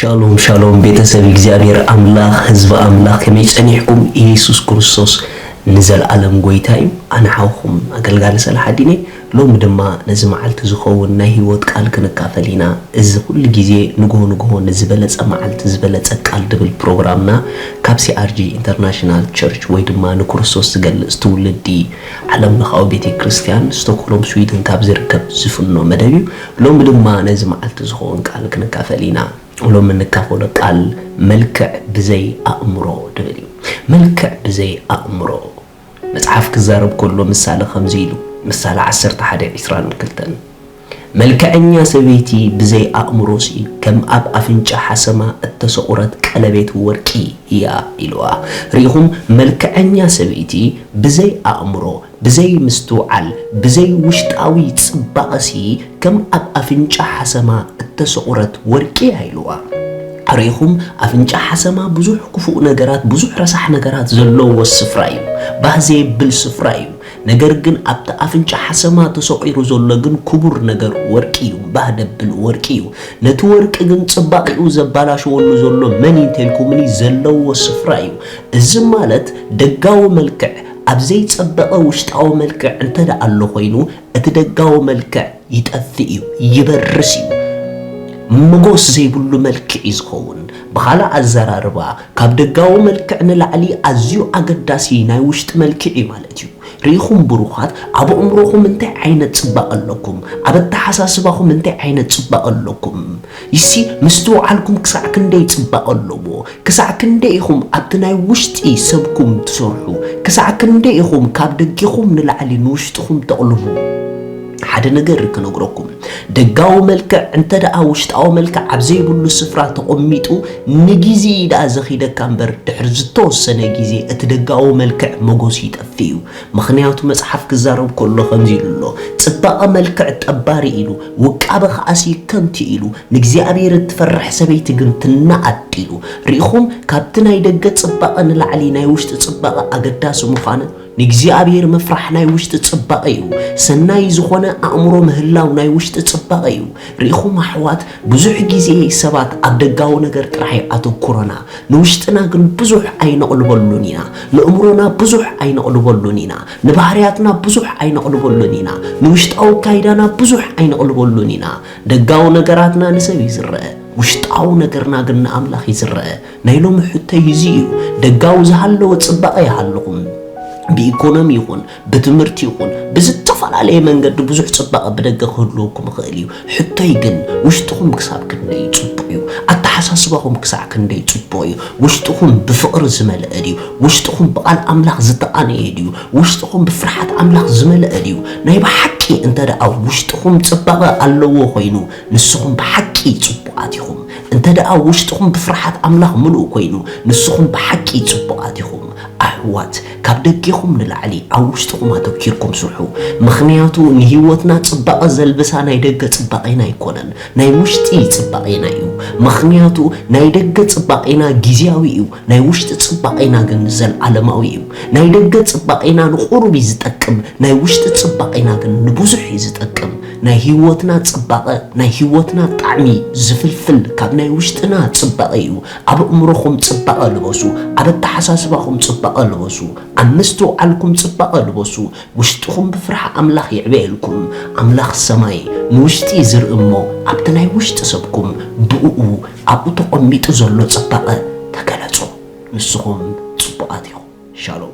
ሻሎም ሻሎም ቤተሰብ እግዚኣብሔር ኣምላኽ ህዝቢ ኣምላኽ ከመይ ጸኒሕኩም? ኢየሱስ ክርስቶስ ንዘለኣለም ጎይታ እዩ። ኣነ ሓውኹም ኣገልጋሊ ሰላሓዲን እየ። ሎሚ ድማ ነዚ መዓልቲ ዝኸውን ናይ ህይወት ቃል ክንካፈል ኢና። እዚ ኩሉ ግዜ ንግሆ ንግሆ ንዝበለጸ መዓልቲ ዝበለጸ ቃል ድብል ፕሮግራምና ካብ ሲኣርጂ ኢንተርናሽናል ቸርች ወይ ድማ ንክርስቶስ ዝገልጽ ትውልዲ ዓለምለኻዊ ቤተ ክርስቲያን ስቶክሆልም ስዊድን ካብ ዝርከብ ዝፍኖ መደብ እዩ። ሎሚ ድማ ነዚ መዓልቲ ዝኸውን ቃል ክንካፈል ኢና። ሎሚ እንካፈሎ ቃል መልክዕ ብዘይ ኣእምሮ ድብል እዩ። መልክዕ ብዘይ ኣእምሮ። መጽሓፍ ክዛረብ ከሎ ምሳሌ ከምዚ ኢሉ ምሳሌ ዓሰርተ ሓደ ዒስራን ክልተን። መልከዐኛ ሰበይቲ ብዘይ ኣእምሮሲ ከም ኣብ ኣፍንጫ ሓሰማ እተሰቑረት ቀለቤት ወርቂ እያ ኢልዋ። ርኢኹም መልከዐኛ ሰበይቲ ብዘይ ኣእምሮ፣ ብዘይ ምስትውዓል፣ ብዘይ ውሽጣዊ ጽባቐሲ ከም ኣብ ኣፍንጫ ሓሰማ እተሰቑረት ወርቂ እያ ኢልዋ። ርኢኹም ኣፍንጫ ሓሰማ ብዙሕ ክፉእ ነገራት፣ ብዙሕ ረሳሕ ነገራት ዘሎዎ ስፍራ እዩ። ባህ ዘየብል ስፍራ እዩ። ነገር ግን ኣብቲ ኣፍንጫ ሓሰማ ተሰቑሩ ዘሎ ግን ኩቡር ነገር ወርቂ እዩ ባህ ደብል ወርቂ እዩ ነቲ ወርቂ ግን ጽባቂኡ ዘባላሸወሉ ዘሎ መን እዩ እንተልኩምኒ ዘለዎ ስፍራ እዩ እዚ ማለት ደጋዊ መልክዕ ኣብ ዘይጸበቐ ውሽጣዊ መልክዕ እንተደኣ ኣሎ ኮይኑ እቲ ደጋዊ መልክዕ ይጠፍእ እዩ ይበርስ እዩ መጎስ ዘይብሉ መልክዕ እዩ ዝኸውን ብኻልእ ኣዘራርባ ካብ ደጋዊ መልክዕ ንላዕሊ ኣዝዩ ኣገዳሲ ናይ ውሽጢ መልክዕ እዩ ማለት እዩ። ርኢኹም ብሩኻት፣ ኣብ ኣእምሮኹም እንታይ ዓይነት ጽባቐ ኣለኩም? ኣብ ኣተሓሳስባኹም እንታይ ዓይነት ጽባቐ ኣለኩም? ይሲ ምስትውዓልኩም ክሳዕ ክንደይ ጽባቐ ኣለዎ? ክሳዕ ክንደይ ኢኹም ኣብቲ ናይ ውሽጢ ሰብኩም ትሰርሑ? ክሳዕ ክንደይ ኢኹም ካብ ደጌኹም ንላዕሊ ንውሽጥኹም ተቕልቡ? ሓደ ነገር ክነግረኩም ደጋዊ መልክዕ እንተ ደኣ ውሽጣዊ መልክዕ ኣብ ዘይብሉ ስፍራ ተቐሚጡ ንግዜ እዩ ደኣ ዘኺደካ እምበር ድሕሪ ዝተወሰነ ግዜ እቲ ደጋዊ መልክዕ መጎሱ ይጠፍእ እዩ ምኽንያቱ መጽሓፍ ክዛረብ ከሎ ከምዚ ኢሉ ኣሎ ጽባቐ መልክዕ ጠባሪ ኢሉ ውቃበ ከኣሲ ከንቱ ኢሉ ንእግዚኣብሔር እትፈርሕ ሰበይቲ ግን ትናኣድ ኢሉ ርኢኹም ካብቲ ናይ ደገ ጽባቐ ንላዕሊ ናይ ውሽጢ ጽባቐ ኣገዳሲ ምዃነ ንእግዚኣብሔር ምፍራሕ ናይ ውሽጢ ጽባቐ እዩ። ሰናይ ዝኾነ ኣእምሮ ምህላው ናይ ውሽጢ ጽባቐ እዩ። ርኢኹም ኣሕዋት ብዙሕ ጊዜ ሰባት ኣብ ደጋዊ ነገር ጥራሕ ኣተኩሮና ንውሽጥና ግን ብዙሕ ኣይነቕልበሉን ኢና። ንእምሮና ብዙሕ ኣይነቕልበሉን ኢና። ንባህርያትና ብዙሕ ኣይነቕልበሉን ኢና። ንውሽጣዊ ኣካይዳና ብዙሕ ኣይነቕልበሉን ኢና። ደጋዊ ነገራትና ንሰብ እዩ ዝረኣ። ውሽጣዊ ነገርና ግን ንኣምላኽ እዩ ዝረኣ። ናይ ሎሚ ሕቶይ እዚ እዩ። ደጋዊ ዝሃለወ ጽባቐ ይሃልኹም። ብኢኮኖሚ ይኹን ብትምህርቲ ይኹን ብዝተፈላለየ መንገዲ ብዙሕ ጽባቐ ብደገ ክህልወኩም ይኽእል እዩ። ሕቶይ ግን ውሽጥኹም ክሳብ ክንደይ እዩ ጽቡቕ እዩ? ኣተሓሳስባኹም ክሳዕ ክንደይ ጽቡቕ እዩ? ውሽጥኹም ብፍቕሪ ዝመልአ ድዩ? ውሽጥኹም ብቓል ኣምላኽ ዝተቓነየ ድዩ? ውሽጥኹም ብፍርሓት ኣምላኽ ዝመልአ ድዩ? ናይ ብሓቂ እንተደኣ ውሽጥኹም ጽባቐ ኣለዎ ኮይኑ ንስኹም ብሓቂ ጽቡቓት ኢኹም። እንተደኣ ውሽጥኹም ብፍርሓት ኣምላኽ ምሉእ ኮይኑ ንስኹም ብሓቂ ጽቡቓት ኢኹም። ኣሕዋት ካብ ደጌኹም ንላዕሊ ኣብ ውሽጥኹም ኣተኪርኩም ስርሑ ምኽንያቱ ንህይወትና ጽባቐ ዘልብሳ ናይ ደገ ጽባቄና ኣይኮነን ናይ ውሽጢ ጽባቄና እዩ ምኽንያቱ ናይ ደገ ጽባቄና ጊዝያዊ እዩ ናይ ውሽጢ ጽባቄና ግን ዘልኣለማዊ እዩ ናይ ደገ ጽባቄና ንቁሩብ እዩ ዝጠቅም ናይ ውሽጢ ጽባቄና ግን ንብዙሕ እዩ ዝጠቅም ናይ ህይወትና ጽባቀ ናይ ህይወትና ጣዕሚ ዝፍልፍል ካብ ናይ ውሽጥና ጽባቀ እዩ ኣብ እእምሮኹም ጽባቀ ልበሱ ኣብ ኣተሓሳስባኹም ጽባቀ ልበሱ ኣብ ምስትውዓልኩም ጽባቀ ልበሱ ውሽጥኹም ብፍርሓ ኣምላኽ ይዕበየልኩም ኣምላኽ ሰማይ ንውሽጢ ዝርኢ እሞ ኣብቲ ናይ ውሽጢ ሰብኩም ብእኡ ኣብኡ ተቐሚጡ ዘሎ ጽባቐ ተገለጹ። ንስኹም ጽቡቓት ኢኹም። ሻሎም።